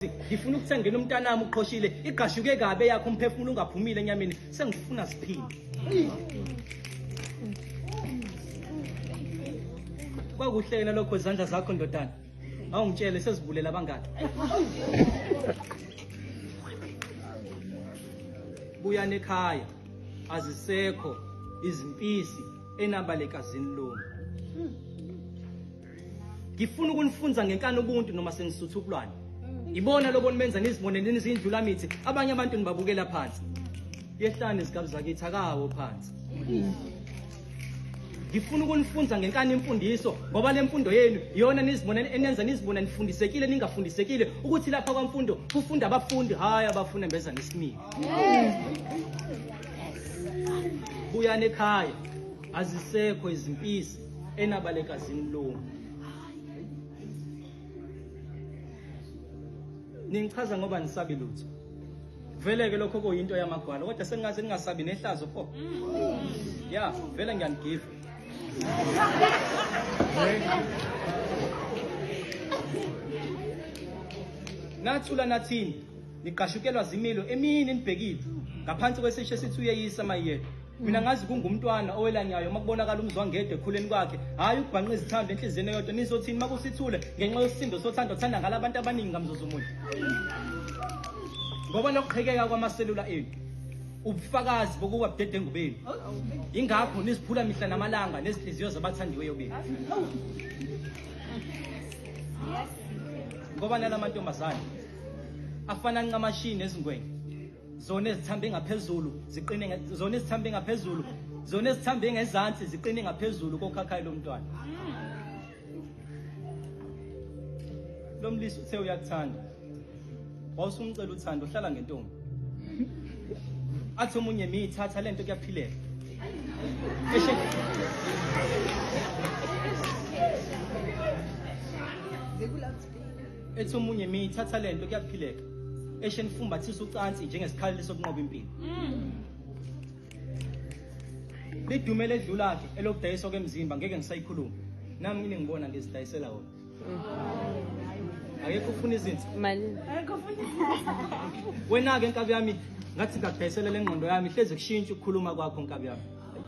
ngifuna ukuthi angene umntanami uqhoshile igqashuke kabe yakho umphefumulo ungaphumile enyameni sengifuna siphinde kwakuhle yena lokho izandla zakho ndodana awungitshele sezibulela abangaki buyani ekhaya azisekho izimpisi enabalekazini lona ngifuna ukunifunza ngenkani ubuntu noma senisutha ubulwane ibona lobo nimenza nizibone nizindlula mithi abanye abantu nibabukela phansi yehlani izigabi zakithi akawo phansi ngifuna ukunifunza ngenkani imfundiso ngoba le mfundo yenu iyona nizibona enenza nizibona nifundisekile ningafundisekile ukuthi lapha kwamfundo kufunda abafundi hhayi abafuna mbeza nesimile buyani ekhaya azisekho izimpisi enabalekazini lowo ningichaza ngoba nisabi lutho vele-ke lokho kuyinto yamagwala kodwa sengingaze ningasabi nehlazo pho ya vele ngiyanigiva nathula nathini nigqashukelwa zimilo emini nibhekile ngaphansi kwesisho esithi uyeyisa mayiyedwa mina ngazi kungumntwana owelanyayo uma kubonakala umzwangedwa ekhuleni kwakhe hhayi ukubhanqa izithambo enhliziyeni eyodwa nizothini uma kusithule ngenxa yosisindo sothando othanda ngala abantu abaningi ngamzuzumuthi ngoba nokuqhekeka kwamaselula enu ubufakazi bokuba budedengu benu yingakho niziphula mihla namalanga nezinhliziyo zabathandiweyo benu ngoba nalamantombazane afana ncamashini nezingwenya zona ezithambe ngaphezulu ziqine zona ezithambe ngaphezulu zona ezithambe ngezansi ziqine ngaphezulu kokhakhayi lomntwana lomlisi uthe uyakuthanda wawusumcela uthando uhlala ngentombi athi omunye miyithatha lento kuyaphileka ethi omunye mi thatha lento kuyaphileka eshe nifumbathisa ucansi njengesikhaleli sokunqoba impilo lidume ledlula-ke elokudayiswa kwemzimba ngeke ngisayikhuluma nami ngine ngibona ngizidayisela wona akekho ufuna izinsi wena-ke nkabi yami ngathi ngakudayisela le ngqondo yami hlezi kushintsha ukukhuluma kwakho nkabi yami